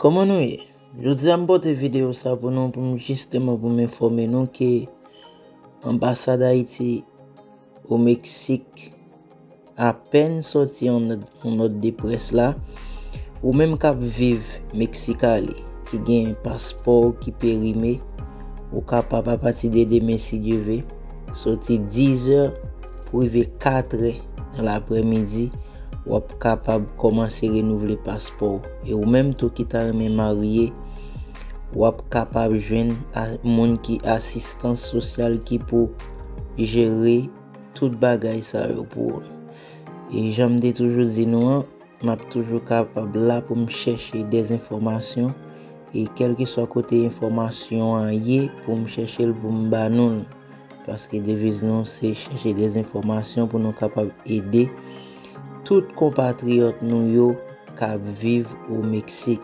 Kòman nou ye? Jodi a m pote videyo sa pou nou pou m jisteman pou m enfòme nou ke Anbasad Ayiti o Meksik apèn sòti yon nòt de près la Ou menm k ap viv Mexicali ki gen paspò w ki perime ou kapab apati de demen si Dye ve sòti 10 è Pou rive 4 è nan laprèmidi, w ap kapab kòmanse renouvle paspò w. E ou menm tou ki ta renmen marye, w ap kapab jwenn moun ki asistans sosyal ki pou jere tout bagay sa yo pou ou. E jan m te toujou di nou an. Map toujou kapab la poum chèche des enfòmasyon e kelkeswa kote enfòmasyon an ye poum chèchel poum ba noul paske deviz nou se chèche des enfòmasyon pou nou kapab ede tout konpatriyòt nou yo kap viv o Meksik.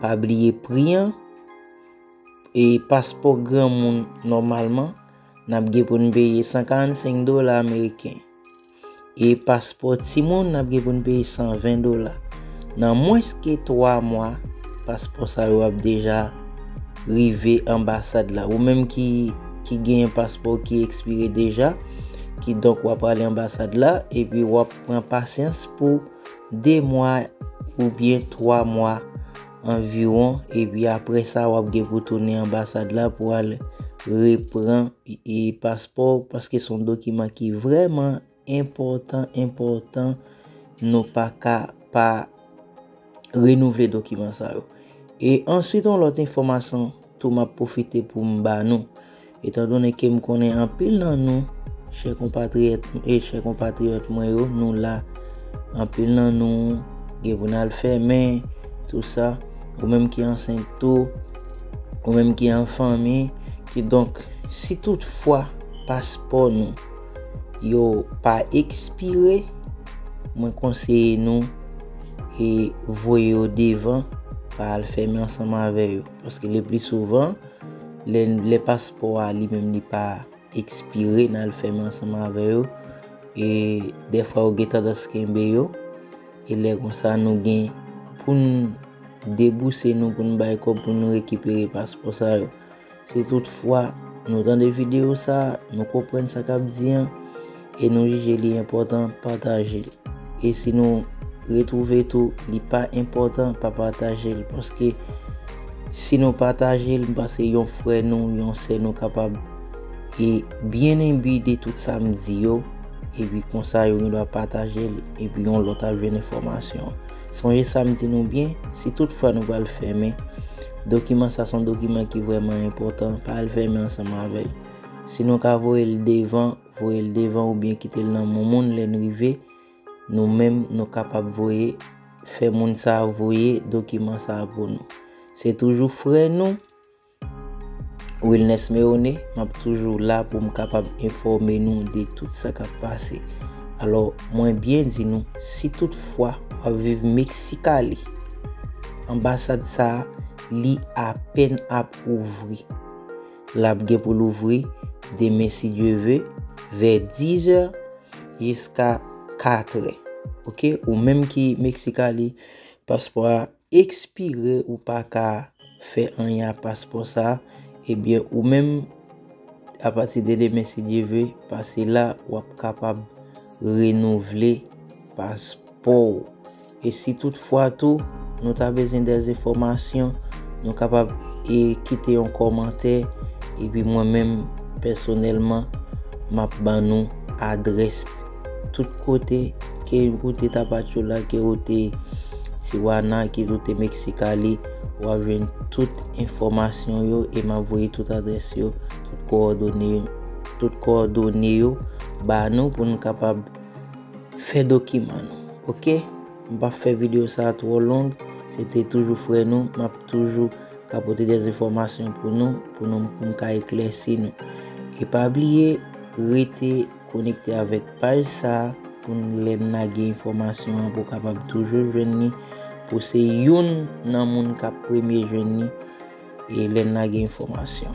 Pa bliye pri an. E paspò granmoun nòmalman n ap gen pou n peye 145 dola ameriken. E paspò timoun n ap gen pou n peye 120 dola. Nan mwens ke 3 mwa, paspò sa yo ap deja rive anbasad la. Ou menm ki gen yon paspò ki ekspire deja, kidonk w ap prale anbasad la, epi w ap pran pasyans pou 2 mwa oubyen 3 mwa anviwon epi aprè sa wap gen pou tounen anbasad la pou al repran paspò w paske son dokiman ki vrèman enpòtan enpòtan nou pa ka pa renouvle dokiman sa yo. E answit yon lòt enfòmasyon tou map pwofite poum ba nou Etan donnen ke m konnen anpil nan nou, chè konpatriyèt e chè konpatriyòt mwen yo, nou la, anpil nan nou gen pou n al fè, men, tou sa, ou menm ki ansent tou, ou menm ki an fanmi, kidonk, si tout fwa paspò nou yo pa ekspire, mwen konseye nou e voye yo devan pa al fèmen ansanm avè yo, paske le pli souvan, Lè paspò a li menm li pa ekspire nan al fèmen ansanm avè yo e dèfwa yo gen tandans kenbe yo e lè konsa nou gen pou n debouse nou pou n bay kòb pou nou rekipere paspò sa yo. Si tout fwa nou tande videyo sa, nou konprann sa k ap di an. e nou jije li enpòtan pataje l e si nou retwouve tou li pa enpòtan pa pataje l paske si nou pataje l m panse yon frè nou yon sè nou kapab e byen enbi de tout sa m di yo epi konsa yo gen dwa pataje l epi yon lòt ap jwenn enfòmasyon sonje sa m di nou byen si tout fwa nou pral fèmen dokiman sa son dokiman ki vrèman enpòtan pa al fèmen ansanm avè l si nou ka voye l devan Voye l devan oubyen kite l nan moun moun lè n rive. Nou menm nou kapab voye fè moun sa a voye dokiman sa a pou nou. Se toujou frè nou Wilnès Meone, m ap toujou la pou m kapab enfòme nou de tout sa k ap pase. Alò, mwen byen di nou, si tout fwa w ap viv Mexicali, anbasad sa a li apèn ap ouvri. Lap gen pou louvri demen si Dye ve vè 10 zè jiska 4 è ok ou menm ki mexicali paspò a expire ou paka fè anyen ak paspò sa ebyen ou menm apati de demen si Dye ve pase la wap kapab renouvle paspò ou. E si tout fwa tou nou ta bezyen dè enfòmasyon, nou kapab e kite yon kòmantè, epi mwen menm pèsonèlman m ap ban nou adrès tout kote ke ou te Tapachula, ke ou te Tijuana, ke ou te Mexicali, w ap jwenn tout enfòmasyon yo e m ap voye tout adrès yo, tout kowòdone yo ba nou pou nou kapab. Fè dokiman nou ok. M pap fè video sa twò long se te toujou frè nou map toujou ka pote des enfòmasyon pou nou pou nou pou m ka eklèsi nou e pa bliye rete konekte avèk paj sa pou n lè n lage enfòmasyon an pou w kapab toujou jwenn ni pou se youn nan moun kap premye jwenn ni e lè n lage enfòmasyon.